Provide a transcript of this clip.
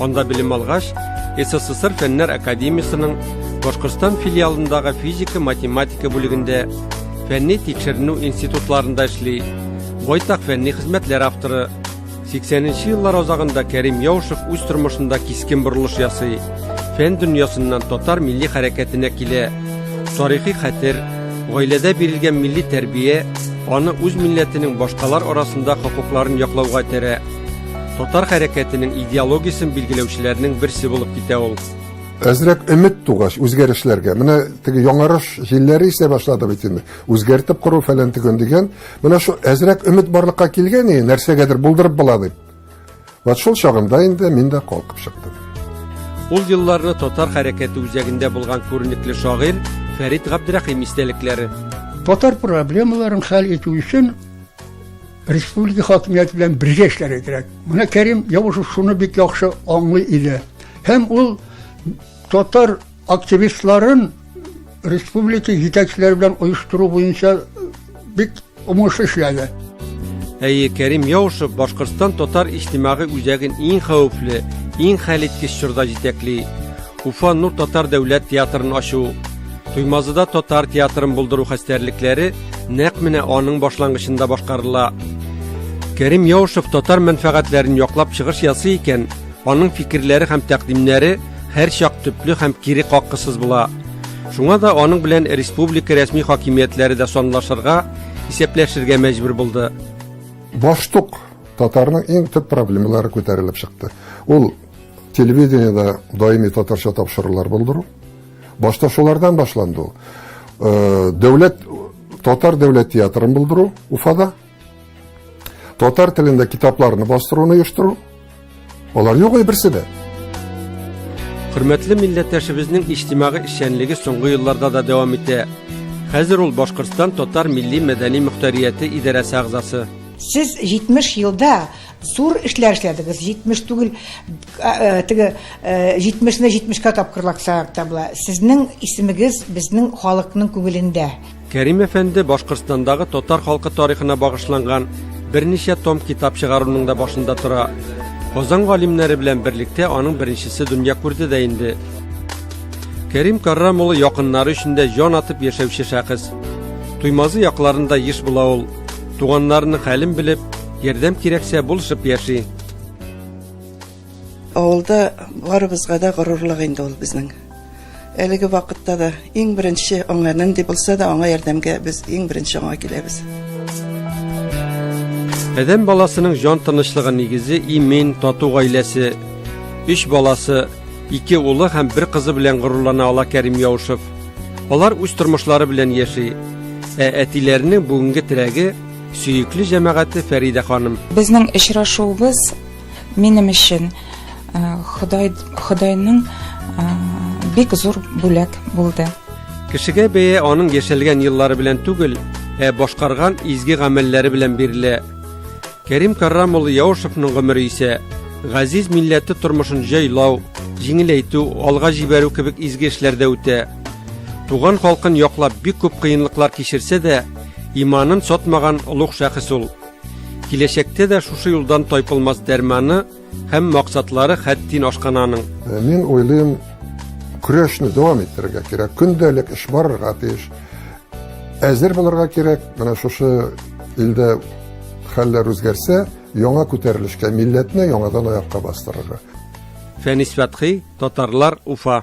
Анда белем алгач, СССР Фәннәр академиясенең Башкортстан филиалындагы физика-математика бүлегендә фәнни тикшеренү институтларында эшли. Байтак фәнни хезмәтләр авторы. 80-нче еллар азагында Кәрим Яушев үз тормышында кискен борылыш ясый. Фән дөньясыннан татар милли хәрәкәтенә килә. Тарихи хәтер, гаиләдә бирелгән милли тәрбия аны үз милләтенең башкалар арасында хокукларын яклауга этәрә. Татар хәрәкәтенең идеологиясен билгеләүчеләрнең берсе булып китә ул. Әзрәк өмет тугач үзгәрешләргә. Менә теге яңарыш җилләре исә башлады бит инде. Үзгәртеп кору фәлән төгөн дигән. Менә шул әзрәк өмет барлыкка килгән иде, нәрсәгәдер булдырып була дип. Вот шул чагында инде мин дә калкып чыктым. Ул елларны татар хәрәкәте үзәгендә булган күренекле шагыйрь Фәрит Габдрәхим истәлекләре. Татар проблемаларын хәл итү өчен Республика хакимияте белән бергә эшләргә кирәк. Менә Кәрим Явушев шуны бик яхшы аңлый иде. Һәм ул татар активистларын республика җитәкчеләре белән оештыру буенча бик уңышлы эшләде. Әйе, Кәрим Яушев Башкортстан татар иҗтимагый үзәген иң хәвефле, иң хәлиткеч чорда җитәкли. Уфа Нур татар дәүләт театрын ачу, Туймазыда татар театрын булдыру хәстәрлекләре Нәкъ менә аның башлангычында башкарыла. Кәрим Яушев татар мәнфәгатьләрен яклап чыгыш ясый икән, аның фикерләре һәм тәкъдимнәре һәрчак төпле һәм кире каккысыз була. Шуңа да аның белән республика рәсми хакимиятләре дә санлашырга, исәпләшергә мәҗбүр булды. Баштук татарның иң төп проблемалары күтәрелеп чыкты. Ул телевидениедә даими татарча тапшырулар булдыру, Башта шулардан башланды ул. Дәүләт татар дәүләт театрын булдыру Уфада. Татар телендә китапларны бастыруны оештыру. Алар юк ай берсе дә. Хөрмәтле милләттәшебезнең иҗтимагый эшчәнлеге соңгы елларда да дәвам итә. Хәзер ул Башкортстан татар милли мәдәни мөхтәрияте идарәсе әгъзасы. Сез 70 елда зур эшләр эшләдегез, 70 түгел, Теге 70-не 70-кә тапкырлак сайлап табыла. Сезнең исемегез безнең халыкның күңелендә. Кәрим әфәнде Башкортстандагы татар халкы тарихына багышланган берничә том китап чыгаруның да башында тора. Казан галимнәре белән берлектә аның беренчесе дөнья күрде дә инде. Кәрим Каррам улы якыннары өчен дә җан атып яшәүче шәхес. Туймазы якларында еш була ул. Туганнарының хәлен белеп, ярдәм кирәксә булышып яши. Авылда барыбызга да горурлык инде ул безнең. Әлеге вакытта да иң беренче аңа нинди булса да аңа ярдәмгә без иң беренче аңа киләбез. Адәм баласының җан тынычлыгы нигезе имин, тату гаиләсе. Өч баласы, ике улы һәм бер кызы белән горурлана ала Кәрим Яушев. Алар үз тормышлары белән яши. Ә әтиләренең бүгенге теләге Сөекле җәмәгате Фәридә ханым. Безнең очрашуыбыз минем өчен э, Ходай Ходайның э, бик зур бүләк булды. Кешегә бәя аның яшәлгән еллары белән түгел, ә башкарган изге гамәлләре белән бирелә. Кәрим Каррам улы Яушевның гомере исә газиз милләте тормышын җайлау, җиңеләйтү, алга җибәрү кебек изге эшләрдә үтә. Туган халкын яклап бик күп кыенлыклар кичерсә дә, Иманын сатмаган олуг шәхес ул. Киләчәктә дә шушы юлдан тайпылмас дәрманы һәм максатлары хәттин ашкан аның. Э, мин уйлыйм, көрәшне дәвам иттерергә кирәк. Көндәлек эш барырга тиеш. Әзер булырга кирәк. Менә шушы илдә хәлләр үзгәрсә, яңа күтәрелешкә милләтне яңадан аякка бастырырга. Фәнис Фәтхи, татарлар Уфа.